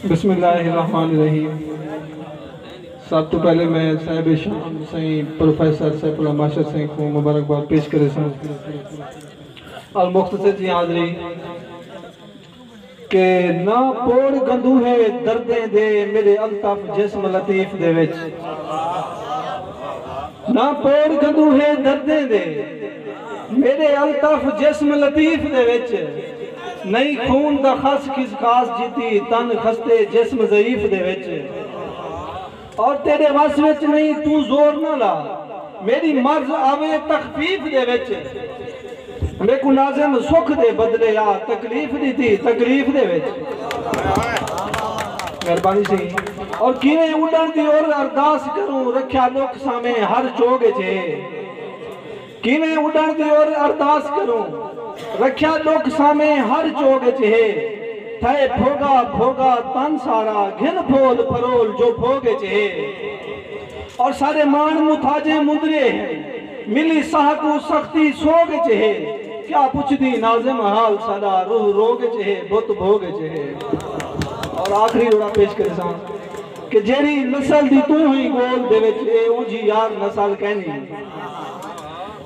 بسم اللہ الرحمن الرحیم سب توں پہلے میں صاحب شان سائیں پروفیسر سیف اللہ ماشر سائیں کوں مبارکباد پیش کریساں اور مختصر جی حاضری کہ نہ پوڑ گندوہے دردیں دے میڈے الطف جسم لطیف دے وچ نہ پور گھدو ہے دردیں دے میݙے الطف جسم لطیف دے وچ نئیں خون دا خس کھس خاص جیتی تن خستے جسم ضعیف دے وچ اور تیݙے وس وچ نئیں توں زور نہ لا میݙی مرض آوے تخفیف دے وچ۔ میکوں ناظم سکھ دے بدلے آ تکلیف ڈتی تکلیف دے وچ مہربانی سی اور کیویں اڈن دی اور ارداس کروں رکھیا ڈکھ سامے ہر چوگ اچ ہے کیویں اڈن دی اور ارداس کروں رکھیا ڈکھ سامے ہر چوگ اچ ہے تھئے بھوگا بھوگا تن سارا گھن پھول پھرول جو بھوگ اچ ہے اور سارے ماݨ متھاجیں مندرے ہن۔ ملی ساہ کوں سختی سوگ اچ ہے کیا پچھدی ناظم حال ساڈا روح روگ اچ ہے بت بھوگ اچ ہے اور آخری جوڑا پیش کریساں کہ جیڑھی نسل دی توں ہیں گول دے وچ اے اونجھی یار نسل کینی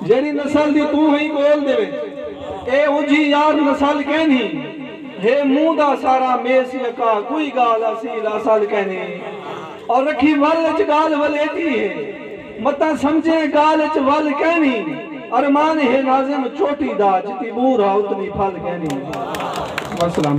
جیڑھی نسل دی توں ہیں گول دے وچ اے اونجھی یار نسل کینی ہے منہ دا سارا میس یکا کوئی گال اصیل اصل کینی اور رکھی ول اچ گال ولیٹی ہے۔ متاں سمجھیں ڳالھ اچ ول کینی۔ ارمان ہے ناظم چوٹی دا جتی مور ہا اتنی پھل کینی۔ والسلام۔